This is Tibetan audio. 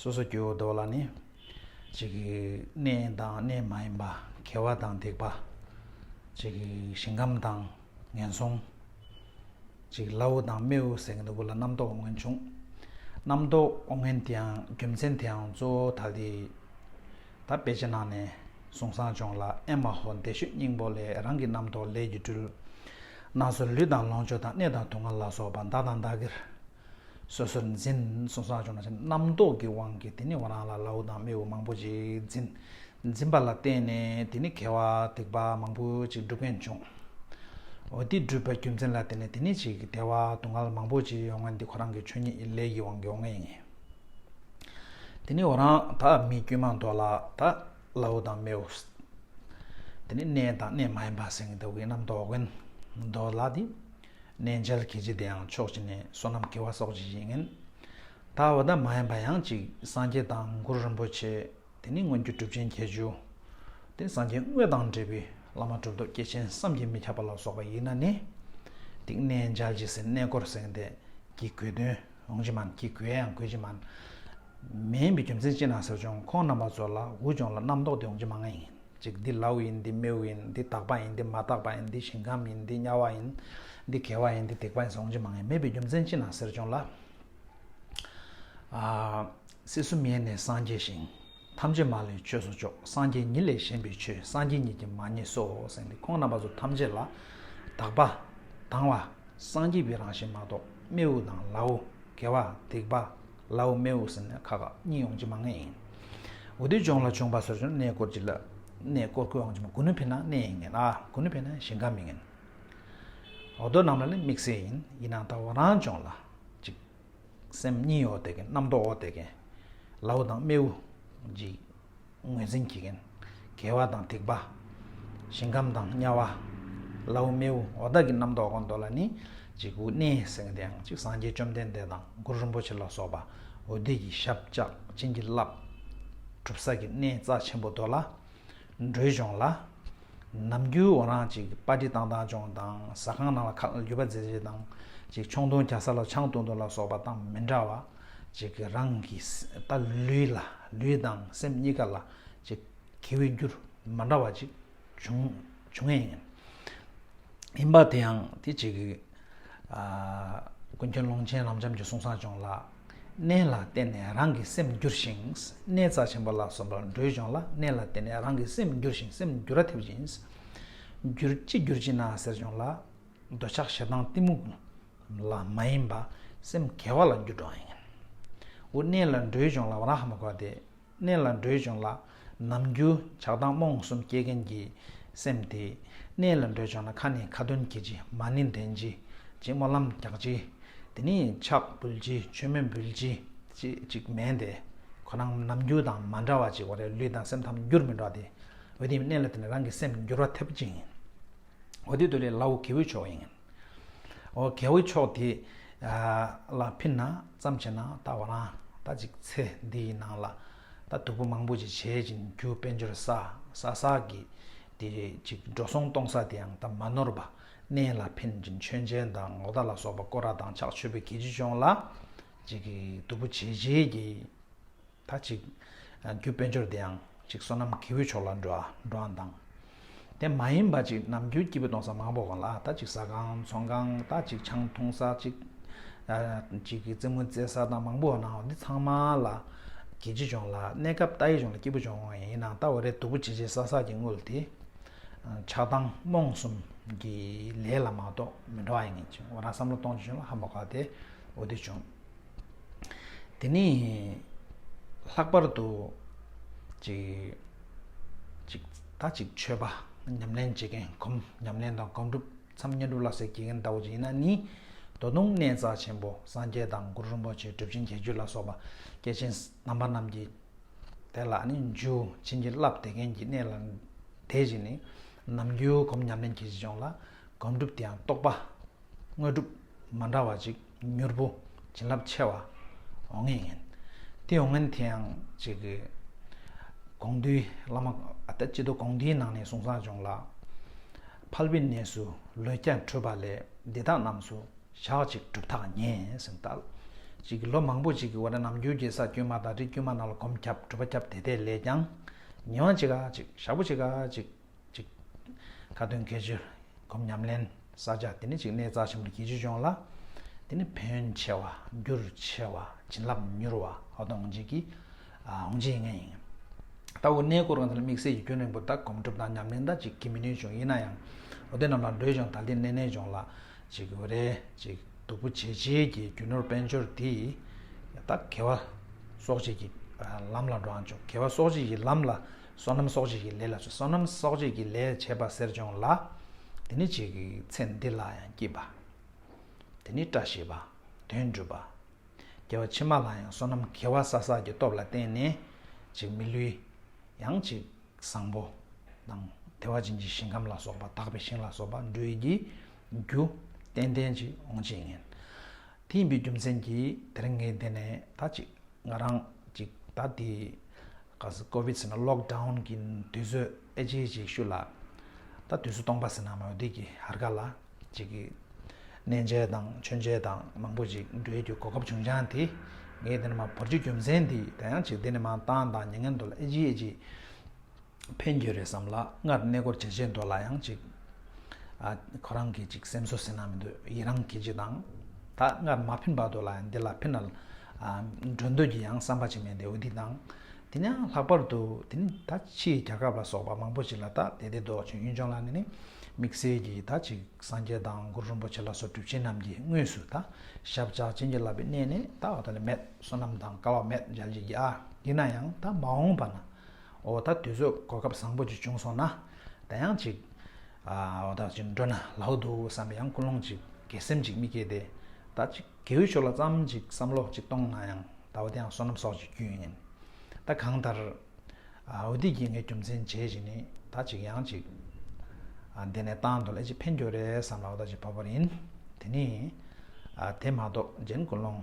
སོ་སོ་སྐྱེ་བོ་བདོག་ལ་ནི། གཅིག་གིས་གནས་དང་གནས་མ་ཡིན་པ། གལ་བ་དང་འདེགས་པ། གཅིག་གིས་ཞིང་ཁམས་དང་ངན་སོང། གཅིག་གིས་བླ་འོ་དང་རྨེའུ་གསེང་ནི་དགུ་ལ་རྣམ་རྟོག་འོ་ངན་འབྱུང། རྣམ་རྟོག་འོ་ངན་དེའང་རྒྱུ་མཚན་དེའང་གཙོ་བོ་ད་ལྟའི་ད་དཔེ་ཅན་ནང་ནས་གཟུང་བསྲང་སྦྱོང་ལ་ཨེ་མ་ཧོ་འདས་ཤོས་སྙིང་པོ་ལས་རང་གི་རྣམ་རྟོག་ལས་ཀྱི་སྤྲུལ། སྣ་ཟུར་ལུས་དང་ལོངས་སྤྱོད་དང་གནས་དང་དུག་ལྔ་ལ་སོགས་པ་མདའ་དང་མདའ་གིར། སོ་སོར་འཛིན་གསུངས་སོ་སྦྱོང་བྱ། རྣམ་རྟོག་གི་དབང་གིས་དེ་ནི་བ་རང་ལ་ལ་འུ་དང་རྨེ་འུ་མང་པོ་ཅིག་འཛིན། འཛིན་པ་ལ་བརྟེན་ནས་དེ་ནི་གལ་བ་སྡིག་པ་མང་པོ་ཅིག་འགྲུབ་མཁན་འབྱུང། འོ་དེ་འགྲུབ་པའི་རྒྱུ་མཚན་ལ་བརྟེན་ནས་དེ་ནི་ཅིག་བདེ་བ་སྡུག་བསྔལ་མང་པོ་ཅིག་ཡོང་ངེས་འདི་ཁོ་རང་གི་ཆོས་ཉིད་ཡིན་ལས་ཀྱི་དབང་གིས་འོང་ངེས་ཡིན། དེ་ནི་བ་རང་དག་མི་དཀྱུས་མ་མདོ་ལ་དག་ལ་འུ་དང་རྨེ་འུ། དེ་ནི་གནས་དང་གནས་མ་ཡིན་པ་སེང་གེ་ཟླ་བའི་རྣམ་རྟོག་བན་དོ་ལ་དེ། གནས་འཇལ་གྱི་རྗེ་དེའང་ཕྱོགས་གཅིག་ནས་བསོད་ནམས་དགེ་བ་སོགས་ཀྱི་གཞི་ངན། ད་བ་ད་མ་ཡིན་པ་ཡང་གཅིག་སངས་རྒྱས་དང་མགུར་རིན་པོ་ཆེ་དེ་ནི་སྔོན་གྱི་གྲུབ་ཆེན་བརྒྱད་ཅུ། དེ་སངས་རྒྱས་དངོས་དང་འབྲེལ་བའི་བླ་མ་གྲུབ་ཐོབ་སྐྱེས་ཆེན་བསམ་གྱིས་མི་ཁྱབ་པ་ལ་སོགས་པ་ཡིན་ན་ནི། དེ་གནས་འཇལ་གྱི་སེར་སྣའི་སྐོར་གསེང་དེ་གྱི་གོས་དོན་འོང་གྱི་མིན་གྱི་གོས་ཡང་གོས་ཀྱི་མིན། མིན་པའི་རྒྱུ་མཚན་ཅི་ན་ཟེར་བྱུང་ཁོང་རྣམ་པ་ཚོ་ལ་འུ་ཅོང་ལ་རྣམ་རྟོག་དེ་འོང་གྱི་མ་ངེས་ཡིན། ཅིག་འདི་ལཱུ་ཡིན་འདི་རྨེའུ་ཡིན་འདི་དག་པ་ཡིན་འདི་མ་དག་པ་ཡིན་འདི་ཞིང་ཁམས་ཡིན་འདི་དམྱལ་བ་ཡིན། འདི་གལ་བ་ཡིན་འདི་ཐེག་པ་ཡིན་ཟོང་ཅི་མ་ངེས་མེད་པའི་རྒྱུ་མཚན་ཅི་ན་ཟེར་བྱུང་ལ། སྲིད་གསུམ་ཡེ་ནས་སངས་རྒྱས་ཤིང། ཐམས་ཅད་མ་ལུས་ཆོས་སོ་ཅོག་སངས་རྒྱས་ཉིད་ལས་གཞན་པའི་ཆོས་སངས་རྒྱས་ཉིད་ཀྱིས་མ་རྙེད་སོ་སེང་གེ་ཁོང་རྣམ་པ་ཚོ་ཐམས་ཅད་ལ། དག་པ། དང་བ། སངས་རྒྱས་པའི་རང་བཞིན་མ་གཏོགས་རྨེའུ་དང་ལཱུ། གལ་བ། ཐེག་པ། ལའོ་སྨེའུ་ཟེར་ནས་ཁ་ཁ་གཉིས་ཡོང་རྒྱུ་མ་ངེས་ཡིན། འོ་དོད་ལྗོངས་ལ་བྱུང་བ་སོར་ཆུད་ནས་གནས་སྐོར་གྱི་ལ། གནས་སྐོར་སྐོར་འོང་རྒྱུ་མ་གུ་ནུ་ཕེ་ནང་གནས་ཡིན་ངེས་ལ་གུ་ནུ་ཕེ་ནང་ཞིང་ཁ་མིན་ངེས། འོ་དོད་རྣམས་ལ་ནི་དམིགས་བསལ་ཡིན་ཡིན་ནའང་ད་བ་རང་ལྗོངས་ལ། གཅིག། སེམས་གཉིས་འོ་དོད་མཁན་རྣམ་རྟོག་འོ་དོད་མཁན། ལའོ་དང་སྨེའུ། གཅིག། ངོས་འཛིན་གྱི་མཁན། དགེ་བ་དང་སྡིག་པ། ཞིང་ཁམས་དང་དམྱལ་བ། ལཱུ། རྨེའུ་འོ་བདག་གི་རྣམ་རྟོག་གོ་འདོད་ལ་ནི། གཅིག་དབུ་སྣེ་གསེང་སྟེང་གཅིག་སངས་རྒྱས་བཅོམ་ལྡན་འདས་དང་གུ་རུ་རིན་པོ་ཆེ་ལ་སོགས་པ། འོད་སྡེ་ཡི་ཞབས་བཅག་བྱིན་གྱིས་བརླབས། གྲུབ་ས་ཀྱི་གནས་རྩ་ཆེན་པོ་རྡོ་ལ། འགྲོས་སྦྱོང་ལ། ནམ་རྒྱུན་འོ་རང་གཅིག་པ་ཏི་ཏང་ཏང་སྦྱོང་དང་ཟ་ཁང་ནང་ལ་ཁ་ལ་རྒྱུ་བ་རྫེ་རྫེ་དང། གཅིག་མཆོང་སྟོན་རྒྱ་ས་ལ་ཆང་བཏུང་བཏུང་ལ་སོགས་པ་དང་མི་འདྲ་བ། ཅིག་གིས་རང་གི་ལྟ་ལུས་ལ་ལུས་དང་སེམས་གཉིས་ཀ་ལ་ཅིག་གིས་འོས་འགྱུར་མ་འདྲ་བ་ཅིག་འབྱུང་འབྱུང་ངེས་ཡིན། ཡིན་པ་དེའང་དེ་ཅིག་གིས། ཀུན་མཁྱེན་ཀློང་ཆེན་རབ་འབྱམས་ཀྱི་གསུང་གསང་སྦྱོང་ལ་གནས་ལ་བརྟེན་ནས་རང་གི་སེམས་འགྱུར་ཞིང་གནས་རྩ་ཆེན་པོ་ལ་སོགས་པ་འགྲོའི་སྦྱོང་ལ་གནས་ལ་བརྟེན་ནས་རང་གི་སེམས་འགྱུར་ཞིང་སེམས་འགྱུར་ར་ཐེབས་ཅིང། འགྱུར་ཅི་འགྱུར་ཅི་ན་ཟེར་སྦྱོང་ལ། འདོད་ཆགས་ཞེ་སྡང་གཏི་མུག་ལ་མ་ཡེངས་པ། སེམས་དགེ་བ་ལ་འགྱུར་འགྲོ་བ་ཡིན། འོ་གནས་ལ་འགྲོའི་ལྗོངས་ལ་བར་ཧ་མ་གོ་བ་དེ། གནས་ལ་འགྲོའི་ལྗོངས་ལ་ནམ་རྒྱུན་ཆགས་སྡང་རྨོངས་གསུམ་སྐྱེ་མཁན་གྱི་སེམས་དེ། གནས་ལ་འགྲོའི་ལྗོངས་ན་ཁ་ནི་ཁ་དོན་གྱིས་ཅི་མ་ནི་འདྲེན་ཅི། ཅི་སྨོན་ལམ་རྒྱག་ཅི། དེ་ནི་ཕྱག་འབུལ་ཅི་མཆོད་མེ་འབུལ་ཅི་ཅི་ཅིག་མེད་དེ། ཁོ་རང་ནམ་རྒྱུན་དང་མ་འདྲ་བ་ཅིག་འོ་རེ་ལུས་དང་སེམས་ཐམས་འགྱུར་མི་འགྲོ་བ་དེ། འོ་དེ་ནི་གནས་ལ་དེ་ནི་རང་གི་སེམས་འགྱུར་བ་ཐེབས་པ་ཅིག་ཡིན། འོ་དེ་དུ་ལས་ལ་འོ་གེ་འོད་མཆོག་ཡིན། འོ་གེ་འོད་མཆོག་དེ་ལ་ཕིན་ན་ཙམ་བྱས་ན་ད་བ་རང་ད་ཅིག་ཚེ་འདི་ཡི་ནང་ལ་ད་དུ་བུ་མང་པོ་ཅིག་བྱེད་ཅིང་རྒྱུ་དཔལ་འབྱོར་ས་ས་ས་གི་དེ་རེ་ཅིག་འགྲོ་སོང་གཏོང་ས་དེའང་ད་མ་ནོར་བ་གནས་ལ་ཕིན་ཅིང་མཆོད་མཇལ་དང་ངོ་ད་ལ་སོགས་པ་བསྐོར་ར་དང་ཕྱག་མཆོད་པའི་གེ་ཅི་ཅོང་ལ་ཅིག་གི་དུ་བུ་བྱེད་བྱེད་ཀྱི། ད་ཅིག། རྒྱུ་དཔལ་འབྱོར་དེའང་ཅིག་བསོད་ནམས་ཀྱི་བུའི་ཕྱོགས་ལ་འགྲོ་བའང་དང། དེ་མ་ཡིན་པ་ཅིག་ནམ་རྒྱུན་སྐྱིད་པོ་གཏོང་ས་མང་པོ་གང་ལ་ད་ཅིག་ཟ་ཁང་ཚོང་ཁང་ད་ཅིག་ཆང་འཐུང་ས་ཅིག། ཅིག་གི་རྩེད་མོ་རྩེ་ས་དང་མང་པོ་བ་ནའོ་འདི་ཚང་མ་ལ། གི་ཅི་བྱུང་ལ་གནས་སྐབས་རྟ་ཡི་བྱུང་ལ་སྐྱིད་པོ་བྱུང་ཡིན་ནའང་རྟ་འོ་རེ་དུ་བུ་ཇེ་ཇེ་ས་ས་ཀྱི་དངུལ་དེ། ཆགས་སྡང་རྨོངས་གསུམ་གྱི་ལས་ལ་མ་གཏོགས་མི་འགྲོ་བ་ཡིན་ཅིང་འོ་ར་བསམ་བློ་གཏོང་ཅི་བྱུང་ལ་ཧ་མོ་ཁ་དེ་འོ་དེ་བྱུང། དེ་ནས་ལྷག་པར་དུ་ཅིག་ད་ཅིག་མཆོད་པ་ཉམས་ལེན་བྱེད་མཁན་གོམས་ཉམས་ལེན་དང་གོམས་སྒྲུབ་མཚམས་བསྙེན་སྒྲུབ་ལ་ཟེར་གྱི་མཁན་ཟླ་བོ་རྗེ་ཡིན་ན་ནི་རྡོ་སྟོང་གནས་རྩ་ཆེན་པོ་སངས་རྒྱས་དང་གུ་རུ་རིན་པོ་ཆེ་སྒྲུབ་ཆེན་རྒྱལ་གྱུར་ལ་སོགས་པ་སྐྱེས་ཆེན་དམ་པ་རྣམས་ཀྱི་དེ་ལ་ནི་འཇུ་བྱིན་གྱིས་བརླབས་བདེ་མཁན་གྱི་གནས་ལ་དེ་བཞིན་ནི་ནམ་རྒྱུན་གོམས་ཉམས་ལེན་གྱི་གཞུང་ལ་གོམས་སྒྲུབ་དེའང་རྟོགས་པ་དངོས་གྲུབ་མ་འདྲ་བ་ཅིག། མྱུར་པོ་བྱིན་རླབས་ཆེ་བ་འོང་ངེས་ཡིན། དེ་འོང་ངེས་དེ་ཡང་གཅིག་གི། དགོངས་འདུས་བླ་མ་སྤྱི་བསྡུ་དགོངས་འདུས་ནང་ནས་གསུང་བཟང་བྱུང་ལ། ཕལ་པའི་གནས་སུ་ལོས་ཀྱང་འཕྲོས་པ་ལས་འདི་དག་རྣམས་སུ་ཞག་གཅིག་གྲུབ་ཐག་ཉེ་ཟིན་ལྟར། གཅིག་གི་ལོ་མང་པོ་ཅིག་གི་འོག་ནས་ནམ་རྒྱུན་གྱི་ས་དཀྱུས་མ་དང་རི་དཀྱུས་མ་རྣམས་ལ་གོམས་ཁྱབ་གྲུབ་པ་ཁྱབ་དེ་དེ་ལས་ཀྱང་ཉི་མ་གཅིག་ག་གཅིག་ཞག་པོ་གཅིག་ག་གཅིག། གཅིག། ཁ་ཏོན་གལ་ཆེ། སྒོམ་ཉམས་ལེན་བསགས་སྦྱངས་དེ་ནི་གཅིག་གནས་རྩ་ཆེན་པོར་གྱིས་ཕྱིར་སྦྱོང་ལ། དེ་ནི་བོན་ཆེ་བ་རྒྱུར་ཆེ་བ་བྱིན་རླབས་མྱུར་བ་ཨོ་དང་ཨོང་རྗེས་ཀྱི་ཨོང་རྗེས་ལྔས་ཡིན། ལྟ་བུ་གནས་སྐོར་གང་དེ་ལ་དམིགས་བསལ་གྱི་སྐྱོན་རིང་པོ་དག་གོམས་གྲུབ་དང་ཉམས་ལེན་དག་ཅིག་གིས་མི་ནུས་ཀྱང་ཡིན་ན་ཡང། ཨོ་དེ་རྣམས་ལ་འགྲོས་སྦྱོང་དང་དེ་གནས་གནས་སྦྱོང་ལ། གཅིག་འོད་རེ་གཅིག་སྡུག་པོ་བྱེད་བྱེད་ཀྱི་རྒྱུ་ནོར་དཔལ་འབྱོར་འདི་དག་དགེ་བ་གསོག་བྱེད་ཀྱི་ལམ་ལ་འགྲོ་ཨང་ཅོག་དགེ་བ་གསོག་བྱེད་ཀྱི་ལམ་ལ་བསོད་ནམས་གསོག་བྱེད་ཀྱི་ལས་ལ་བྱོ་བསོད་ནམས་གསོག་བྱེད་ཀྱི་ལས་བྱེད་པ་གསེར་སྦྱོང་ལ། དེ་ནི་བྱེད་ཀྱི་ཚེ་འདི་ལ་ཡང་སྐྱིད་པ། དེ་ནི་བཀྲ་ཤིས་པ། དོན་འགྲུབ་པ། རྒྱལ་བ་ཕྱི་མ་ལ་ཡང་བསོད་ནམས་དགེ་བ་ས་སགས་ཀྱི་སྟོབས་ལ་བརྟེན་ནས་ཅིག་མི་ལུས། ཡང་ཅིག་བཟང་པོ། དང། དེ་བ་ཅན་གྱི་ཞིང་ཁམས་ལ་སོགས་པ་དག་པའི་ཞིང་ལ་སོགས་པ་འགྲུས་ཀྱི་རྒྱུ། ཏན་ཏན་ཅིག་འོང་ཅིག་ངན། དེ་ཡིན་པའི་རྒྱུ་མཚན་གྱིས་དེར་ངེས་འདི་ནས་ད་ཅིག། ང་རང་ཅིག་ད་དེ་ག་ཟེ་ཀོ་བིད་ཟེར་ན་ལོག་ཏའུན་གི་དུས་ཚོད་ཨེ་ཇེ་ཇེ་ཤུ་ལ། ད་དུས་ཚོད་སྟོང་པ་ཟེར་ན་མོ་དེ་གི་ཧར་ག་ལ་ཅིག་གི་གནས་མཇལ་དང་མཆོད་མཇལ་དང་མང་པོ་ཅིག་འགྲོའི་རྒྱུ་གོ་སྐབས་བྱུང་ཀྱང་དེ་ངའི་དེ་ནི་མ་བོར་རྒྱུ་རྒྱུ་མཚན་དེ་ད་ཡང་ཅིག་དེ་ནི་མང་ཏང་དང་མྱ་ངན་དུ་ལ་ཨེ་ཇེ་ཨེ་ཇེ། ཕན་རྒྱུ་རེད་བསམ་ལ་སྔར་གནས་སྐོར་བྱེད་བྱེད་མདོ་ལ་ཡང་ཅིག། ཁོ་རང་གིས་ཅིག་སེམས་གསོ་ཟེར་ན་མི་འདོད་ཡི་རང་གིས་ཅིག་དང། ད་སྔར་མ་ཕན་པ་དོ་ལ་ཡང་འདི་ལ་ཕན། འགྲོ་འདོད་ཀྱི་ཡང་བསམ་པ་ཅིག་མེད་དེ་འོས་སྡིག་དང། དེ་ནས་ཡང་ལྷག་པར་དུ་དེ་ནི་ད་ཕྱིའི་རྒྱལ་ཁབ་ལ་སོགས་པ་མང་པོ་ཅིག་ལ་ད་དེ་དེ་ལྡོག་ཅིང་གཡུང་ཆོང་ལ་ནི་དམིགས་བསལ་གྱིས་ད་ཅིག་སངས་རྒྱས་དང་གུ་རུ་རིན་པོ་ཆེ་ལ་སོགས་གྲུབ་ཆེན་རྣམས་ཀྱིས་དངོས་སུ་ད་ཞབས་བཅགས་བྱིན་གྱིས་བརླབས་པའི་གནས་ནི་ད་འོ་དོ་ལ་མེད་བསོད་ནམས་དང་སྐལ་བ་མེད་འཇལ་བྱེད་ཀྱི་ཨ། ཡིན་ན་ཡང་ད་མ་འོངས་པ་ན། འོ་ད་དུས་ཚོད་གོ་སྐབས་བཟང་པོ་ཅིག་བྱུང་སོང་ན། ད་ཡང་ཅིག། འོ་ད་ཅིག་འགྲོ་ན་ལ་འོ་འདུག་བསམ་པའི་ཡང་ཀུན་སློང་ཅིག་དགེ་སེམས་ཅིག་མི་སྐྱེས་ཏེ། ད་ཅིག་གེའུ་ཆོས་ལ་བརྩམ་ཅིག་བསམ་བློ་ཅིག་གཏོང་ན་ཡང་ད་འོ་དེ་ཡང་བསོད་ནམས་སོགས་ཀྱི་རྒྱུན་ཡིན། ད་གང་ལྟར། འོ་འདི་གྱིས་ངའི་རྒྱུ་མཚན་བྱས་ཅིག་ནི་ད་ཅིག་ཡང་ཅིག། འདི་ནས་བཏང་དུ་ལས་ཅིག་ཕན་རྒྱོ་རེད་བསམ་ལ་འོ་ད་ཅིག་བབ་པར་ཡིན། དེ་ནི། དེ་མ་གཏོགས་གཞན་ཀུན་སློང།